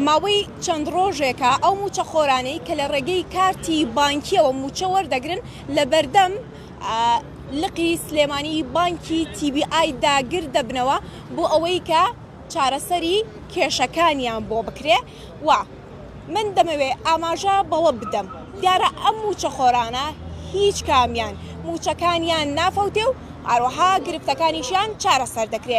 ماوەی چەند ڕۆژێکە ئەو مووچەخۆرانەی کە لە ڕێگەی کارتی بانکییەوە مووچە وەردەگرن لە بەردەم لقی سلێمانی بانکی تی بی ئای داگر دەبنەوە بۆ ئەوەی کە چارەسەری کێشەکانیان بۆ بکرێ و من دەمەوێ ئاماژە بەوە بدەم دیارە ئەم مووچەخۆرانە هیچ کامیان مووچەکانیان نافەوتێ و هەروەها گرفتەکانیشیان چارەسەر دەکرێ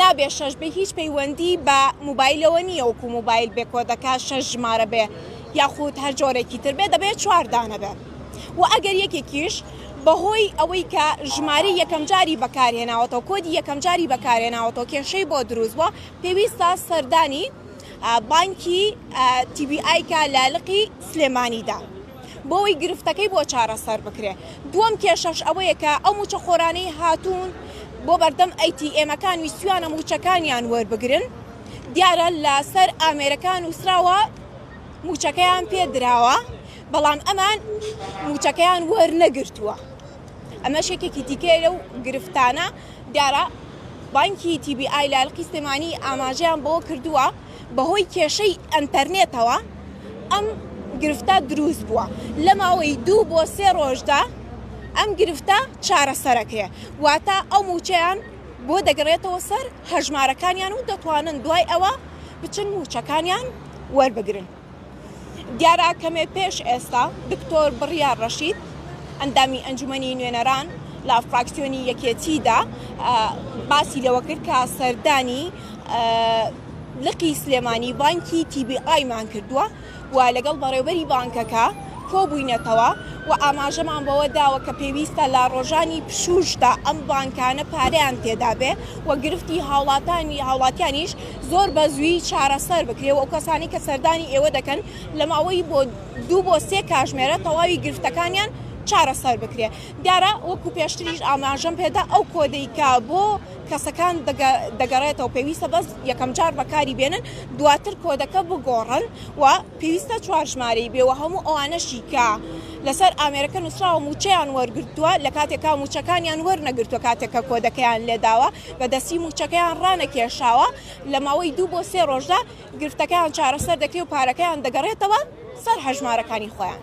نابێ شەش بێ هیچ پەیوەندی بە موبایلەوە نییە وەکو موبایل بێ کۆدەکە شەش ژمارە بێ یاخود هەر جۆرێکی تر بێ دەبێت چوار دانە بێ و ئەگەر یەکێکیش بەهۆی ئەوەی کە ژماری یەکەم جاری بەکارهێناوەتەوە کۆدی یەکەم جاری بەکارهێناوەتەوە کێشەی بۆ دروست بووە پێویستە سەردانی بانکی تیبی ئایکا لە لقی سلێمانیدا. بۆ ئەوەی گرفتەکەی بۆ چارەسەر بکرێت. دووەم کێشەش ئەوەیە کە ئەو مووچەخۆرانەی هاتوون بۆ بەردەم ئەی تی ئێمەکان ویستویانە مووچەکانیان وەربگرن، دیارە لە سەر ئامێرەکان نووسراوە مووچەکەیان پێ دراوە، بەڵام ئەمان مووچەکەیان وەرنەگرتووە. ئەمەش یەکێکی دیکەیە لەو گرفتانە. دیارە بانکی تی بی ئای لە ئەلقی سلێمانی ئاماژەیان بەوە کردووە، بەهۆی کێشەی ئەنتەرنێتەوە ئەم گرفتە دروست بووە لە ماوەی دوو بۆ سێ ڕۆژدا ئەم گرفتە چارەسەرەکرێ واتە ئەو مووچەیان بۆ دەگەڕێتەوە سەر هەژمارەکانیان و دەتوانن دوای ئەوە بچن مووچەکانیان وەربگرن. دیارە کەمێ پێش ئێستا دکتۆر بڕیار ڕەشید ئەندامی ئەنجومەنی نوێنەران لە فراکسیۆنی یەکێتیدا باسی لەوە کرد کە سەردانی لقی سلێمانی بانکی تیبی ئایمان کردووە و لەگەڵ بەڕێوبەری بانکەکە کۆبووینەتەوە و ئاماژەمان بەوە داوە کە پێویستە لە ڕۆژانی پشوشدا ئەم بانکانە پارەیان تێدابێ و گرفتی هاوڵاتانی هاوڵاتیانیش زۆر بە زووی چارەسەر بکرێ و ئەو کەسانەی کە سەردانی ئێوە دەکەن لە ماوەی بۆ دوو بۆ سێ کاژمێرە تەواوی گرفتەکانیان چارەسەر بکرێ دیارە وەکو پێشتریش ئاماژەم پێدا ئەو کۆدەی کە بۆ کەسەکان دەگەڕێتەوە پێویستە بەس یەکەم جار بەکاری بێنن دواتر کۆدەکە بگۆڕن و پێویستە چوار ژمارەی بێ و هەموو ئەوانەشی کە لەسەر ئامێرەکە نووسراوە مووچەیان وەرگرتووە، لە کاتێکا مووچەکانیان وەرنەگرتووە کاتێک کە کۆدەکەیان لێداوە بە دەستی مووچەکەیان ڕانەکێشاوە، لە ماوەی دوو بۆ سێ ڕۆژدا گرفتەکەیان چارەسەر دەکرێ و پارەکەیان دەگەڕێتەوە سەر هەژمارەکانی خۆیان.